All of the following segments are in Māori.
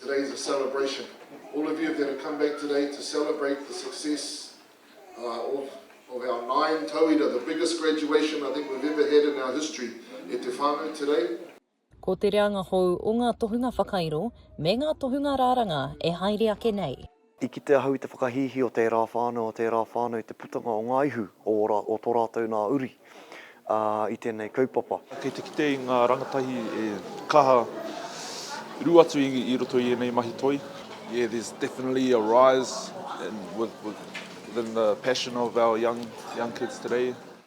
Today is a celebration. All of you have had to come back today to celebrate the success uh, of, of our nine tauira, the biggest graduation I think we've ever had in our history e te whānau today. Ko te reanga hou o ngā tohunga whakairo me ngā tohunga rāranga e haere ake nei. I kite ahau i te whakahīhī o tērā whānau, o tērā whānau i te putanga o ngā ihu o ora, o tō rātou nā uri, ā, i tēnei kaupapa. Kei te kite i ngā rangatahi e kaha rū atu i roto i ēnei mahi toi. Yeah, there's definitely a rise in within the passion of our young kids today.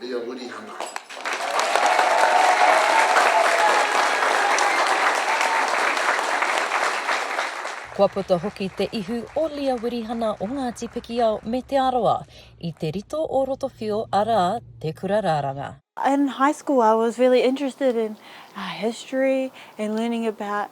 me a Wirihana. Kua puta hoki te ihu o Lia Wirihana o Ngāti Pikiao me Te Arawa i te rito o Rotowhio arā, Te Kura Raranga. In high school I was really interested in history and learning about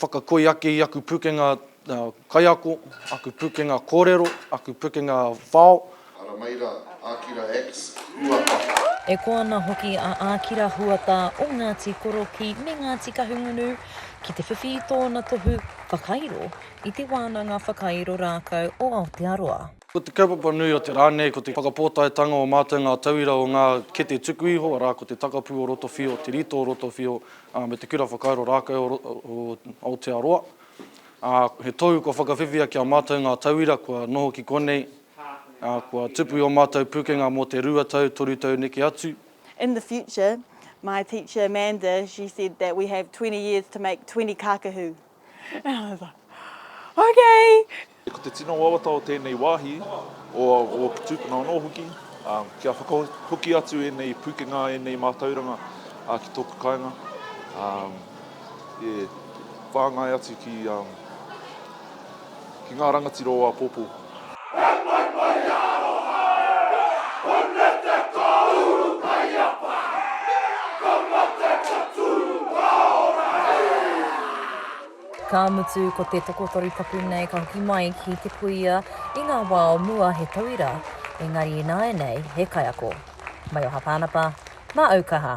Whakakoi ake i aku pukenga kaiako, aku pukenga korero, aku pukenga whao. Ara mai ra, Akira X. Huata. E koa ana hoki a Akira Huata o Ngati Korokī me Ngati Kahungunu ki te whiwhi i tōna tohu whakairo i te Wānanga Whakairo Rākau o Aotearoa. Ko te kaupapa nui o te rā nei ko te whakapōtaetanga o mātou ngā tauira o ngā kete tuku iho, arā, ko te takapū o roto whio, te rito o roto whio, ā, me te Kura Whakairo Rākau o Aotearoa, ā, he tohu kua whakawhiwhia ki a mātou ngā tauira kua noho ki konei, ā, kua tupu i ō mātou pūkenga mō te rua tau, toru tau neke atu. In the future, my teacher Amanda, she said that we have twenty years to make twenty kākahu. Okay! Ko te tino wawata o tēnei wāhi, o ōku tūpuna anō hoki, kia whakahoki atu ēnei pūkenga, ēnei mātauranga ki tōku kāinga, e whāngai atu ki. ki ngā rangatira o āpōpō. Ka mutu, ko te tokotoru tapu nei ka hoki mai ki te kuia i ngā wā o mua he tauira, engari ināianei he kaiako. Maioha Pānapa, Mā Aukaha!